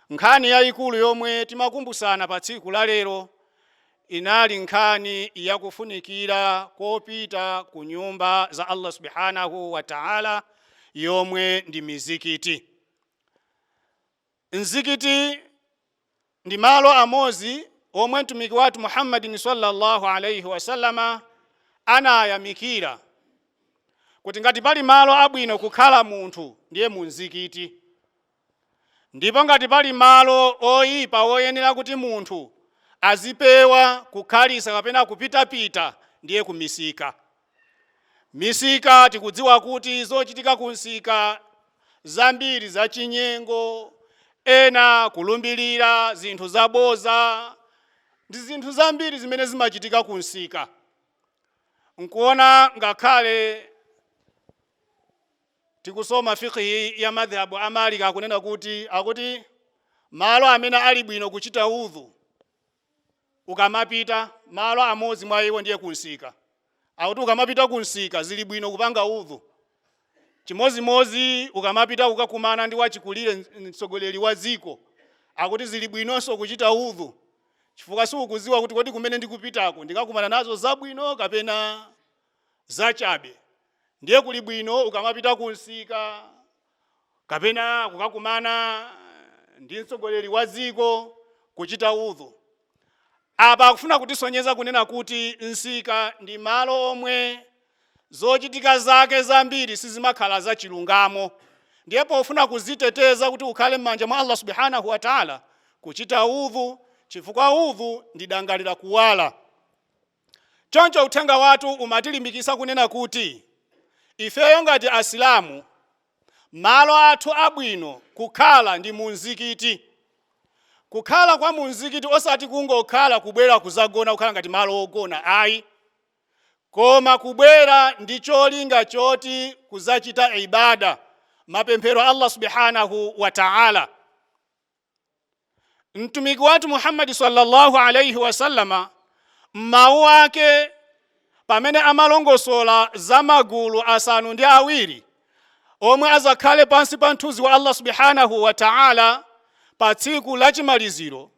Nkhani yaikulu yomwe timakumbutsana pa tsiku la lero inali nkhani ya kufunikira kopita ku nyumba za Allah subhanahu wa ta'ala yomwe ndi mizikiti. Mzikiti ndi malo amodzi omwe mtumiki wathu Muhammadin sallallahu alaihi wasallama anayamikira kuti ngati pali malo abwino kukhala munthu ndiye mu mzikiti. Ndipo ngati pali malo oipa woyenera kuti munthu azipewa kukhalitsa kapena kupitapita ndiye ku misika. Misika tikudziwa kuti zochitika ku msika zambiri za chinyengo, ena kulumbirira zinthu za boza ndi zinthu zambiri zimene zimachitika ku msika. Nkuona ngakhale. tikusoma Fiqh ya Madhhab a Malik akunena kuti akuti malo amene ali bwino kuchita wudhu ukamapita malo amodzi mwa iwo ndiye kunsika. Akuti ukamapita kunsika zili bwino kupanga wudhu. Chimodzimodzi ukamapita kukakumana ndi wachikulire mtsogoleri wa dziko akuti zili bwinonso kuchita wudhu chifukwa siukudziwa kuti kodi kumene ndikupitaku ndikakumana nazo zabwino kapena zachabe ndiye kuli bwino ukamapita kunsika kapena kukakumana ndi mtsogoleri wa dziko kuchita udhu apa akufuna kutisonyeza kunena kuti nsika ndi malo omwe zochitika zake zambiri sizimakhala zachilungamo ndiye pofuna kuziteteza kuti ukhale m'manja mwa allah subhanahu wa taala kuchita udhu chifukwa udhu ndi dangalira kuwala Choncho uthenga wathu umatilimbikitsa kunena kuti, ifeyo ngati Asilamu, malo athu abwino kukhala ndi munzikiti. Kukhala kwa munzikiti osati kungokhala kubwera kuzagona kukhala ngati malo ogona ayi, koma kubwera ndi cholinga choti kuzachita ibaada, mapemphero Allah Subhanahu wa Ta'ala. mtumiki wathu muhammadi sallallahu alaihi wasallama m'mawu ake pamene amalongosola za magulu asanu ndi awiri omwe azakhale pansi pa mthunzi wa allah subhanahu wa taala pa tsiku la chimaliziro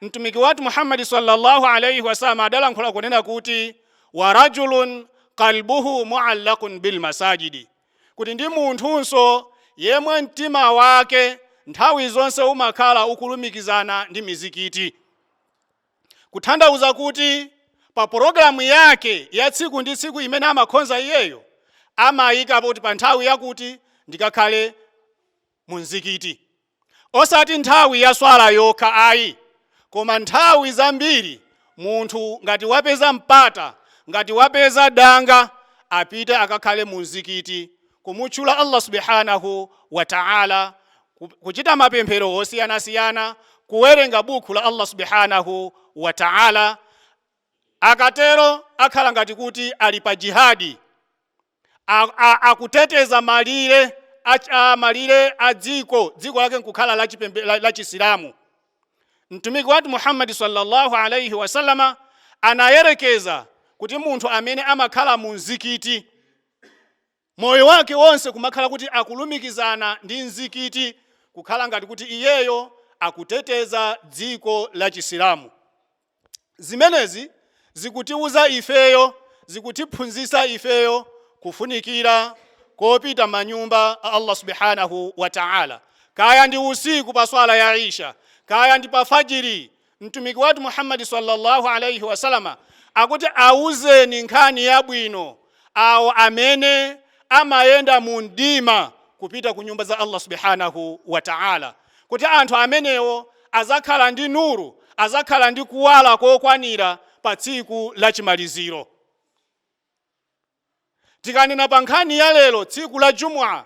mtumiki wathu muhammadi sallallahu alaihi wasallama adalankhula kunena kuti wa rajulun qalbuhu muallakun bilmasajidi kuti ndi munthunso yemwe mtima wake nthawi zonse umakhala ukulumikizana ndi mizikiti, kutanthauza kuti pa pulogalamu yake ya tsiku ndi tsiku imene amakhonza iyeyo amayikapo kuti pa nthawi yakuti ndikakhale mu mzikiti. Osati nthawi ya Swalah yokha ayi, koma nthawi zambiri munthu ngati wapeza mpata, ngati wapeza danga, apite akakhale mu mzikiti kumutchula Allah Subhaanahu wa Ta'ala, kuchita mapemphero osiyanasiyana, kuwerenga bukhu la Allah Subhaanahu wa Ta'ala. Akatero akhala ngati kuti ali pa jihaad. a, a, akuteteza malire a, a malire a dziko dziko lake nkukhala la, chipembe, la, la chisilamu mtumiki wathu muhammadi sallallahu alaihi wasallama anayerekeza kuti munthu amene amakhala mu mzikiti moyo wake wonse kumakhala kuti akulumikizana ndi mzikiti kukhala ngati kuti iyeyo akuteteza dziko la chisilamu Zimenezi zikutiuza ifeyo, zikutiphunzitsa ifeyo kufunikira kopita manyumba a Allah Subhaanahu wa Ta'ala, kaya ndi usiku pa swala ya Isha, kaya ndi pa Fajiri. Mtumiki wathu Muhammad salla Allah alaih wasallam akuti, Auzeni nkhani yabwino awo amene amayenda mu mdima kupita ku nyumba za Allah subhanahu wa ta'ala kuti anthu amenewo azakhala ndi nuru azakhala ndi kuwala kokwanira pa tsiku la chimaliziro tikanena pa nkhani ya lero tsiku la jumua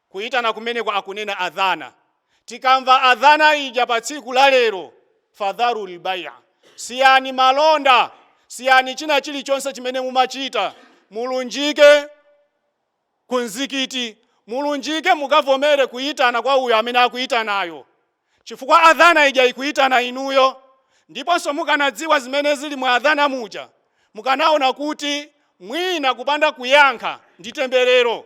Kuitana kumeneko akunena adhana. Tikamva adhana ija pa tsiku la lero, fadharul bai'a, siyani malonda, siyani china chilichonse chimene mumachita, mulunjike ku mzikiti, mulunjike mukavomere kuitana kwa uyo amene akuitanayo, chifukwa adhana ija ikuitana inuyo. Ndiponso mukanadziwa zimene zili mu adhana muja, mukanaona kuti mwina kupanda kuyankha ndi temberero.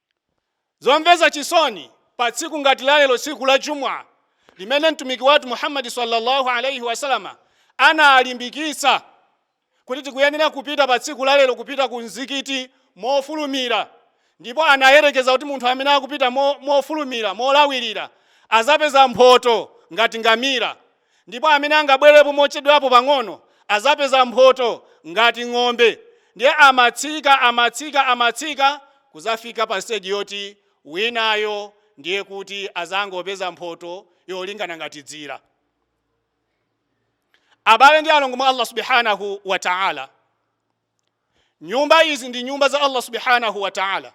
Zomvesa chisoni, pa tsiku ngati la lero tsiku la Jumu'ah limene Mtumiki wathu Muhammad salla Allah alaih wasallam analimbikitsa kuti tikuyenera kupita pa tsiku la lero kupita ku mzikiti mofulumira, ndipo anayerekeza kuti munthu amene akupita mofulumira, molawilira, azapeza mphoto ngati ngamira. Ndipo amene angabwelepo mochedwapo pang'ono azapeza mphoto ngati ng'ombe ndiye amatsika amatsika amatsika kuzafika pa stage yoti winayo ndiye kuti azangopeza mphoto yolingana ngati dzira. Abale ndi alongo mwa Allah Subhaanahuu Wataalaa! Nyumba izi ndi nyumba za Allah subhanahu wa ta'ala.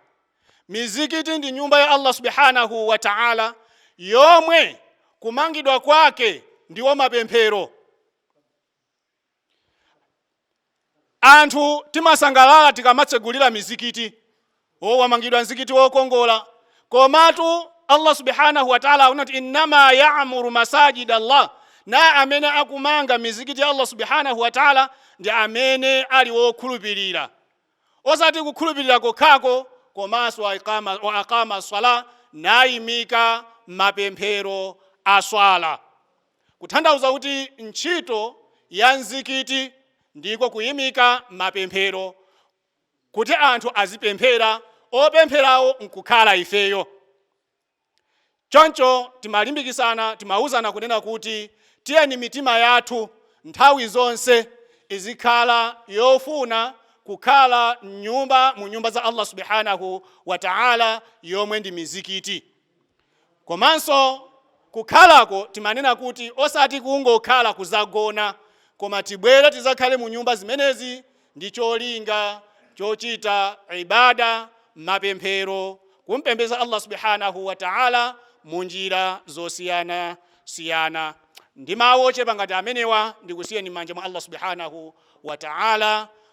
Mizikiti ndi nyumba ya Allah subhanahu wa ta'ala yomwe kumangidwa kwake ndiwo mapemphero. Anthu timasangalala tikamatsegulira mizikiti Oh wamangidwa mzikiti wokongola komatu Allah Subhaanahu wa Ta'aala akunena kuti innama ya'muru masaajida Allah nde amene akumanga mizikiti ya Allah Subhaanahu wa Ta'aala ndi amene ali wokhulupirira osati kukhulupirira kokhako komanso wa aqama as-salah naimika mapemphero a swala kuthandauza kuti ntchito ya mzikiti ndiko kuimika mapemphero kuti anthu azipemphera, opempherawo n'kukhala ifeyo. Choncho timalimbikitsana, timauzana kunena kuti, Tiyeni mitima yathu nthawi zonse izikhala yofuna kukhala m'nyumba mu nyumba za Allah Subhaanah wa Ta'ala yomwe ndi mizikiti. Komanso kukhalako timanena kuti osati kungokhala kuzagona koma tibwere tizakhale mu nyumba zimenezi ndi cholinga chochita ibada, mapemphero, kumpembeza Allah Subhaanah wa Ta'ala mu njira zosiyana siyana. Ndi mawu ochepa ngati amenewa ndikusiyeni m'manja mwa Allah Subhaanah wa Ta'ala.